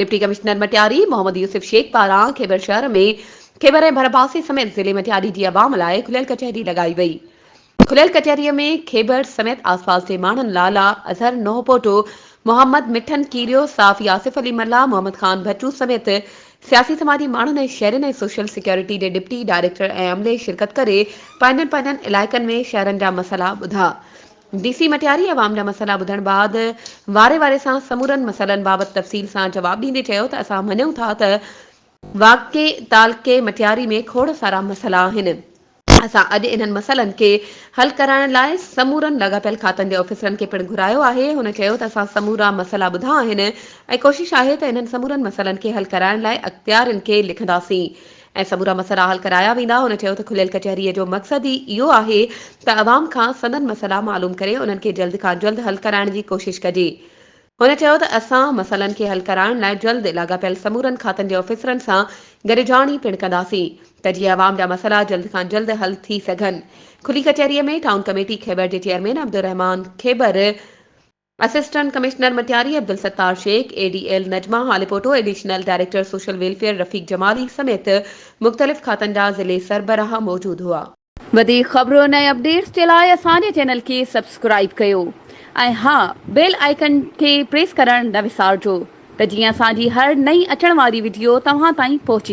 Deputy commissioner Matiari Muhammad Yousuf Shaikh پاران خيبر شهر ۾ خيبر ۽ ڀرپاسي سميت ضلعي مٽياري جي عوام لاء کليل ڪچهري لڳائي وئي. کليل ڪچهري ۾ خيبر سميت آسپاس جي ماڻهن لالا اظهر نوحپوٽو، محمد مٺن ڪيريو، صحافي آصف علي ملاح، محمد خان ڀٽو سميت سياسي سماجي ماڻهن ۽ شهرين ۽ سوشل سيڪيورٽي جي ڊپٽي ڊائريڪٽر ۽ عملي شرڪت ڪري پنهنجن پنهنجن علائقن ۾ شهرن جا مسئلا ٻڌا. ڊي سي مٽياري عوام جا مسئلا ٻڌڻ بعد واري واري سان سمورن مسئلن بابت تفصيل سان جواب ڏيندي چيو ته اسان مڃون ٿا ته واقعي تعلقي مٽياري ۾ کوڙ سارا مسئلا آهن، اسان اڄ انهن مسئلن کي حل ڪرائڻ لاء سمورن لاڳاپيل کاتن جي آفيسرن کي پڻ گهرايو آهي، هن چيو ته اسان سمورا مسئلا ٻڌا آهن ۽ ڪوشش آهي ته انهن سمورن مسئلن کي حل ڪرائڻ لاء اختيارين کي لکنداسين. ۽ سمورا مسئلا حل ڪرايا ويندا، هن چيو ته کليل ڪچهري جو مقصد ئي اهو آهي ته عوام کان سندن مسئلا معلوم ڪري انهن کي جلد کان جلد حل ڪرائڻ جي ڪوشش ڪجي، هن چيو ته اسان مسئلن کي حل ڪرائڻ لاء جلد لاڳاپيل سمورن کاتن جي آفيسرن سان گڏجاڻي پڻ ڪنداسين ته جيئن عوام جا مسئلا جلد کان جلد حل ٿي سگهن، کلي ڪچهري ۾ ٽائون ڪميٽي کيٻر جي chairman Abdulrahman Khebar, assistant commissioner Matiari Abdulsattar Shaikh, A D L Najma Haliputo, additional director social welfare Rafiq Jamali سميت مختلف کاتن جا ضلعي سربراهه موجود هئا. وڌيڪ خبرن ۽ اپڊيٽس جي لاء اسان جي چينل کي سبسڪرائيب ڪيو ۽ ها بيل آئيڪن کي پريس ڪرڻ نه وسارجو ته جيئن اسان جي هر نئين اچڻ واري وڊيو توهان تائين پهچي.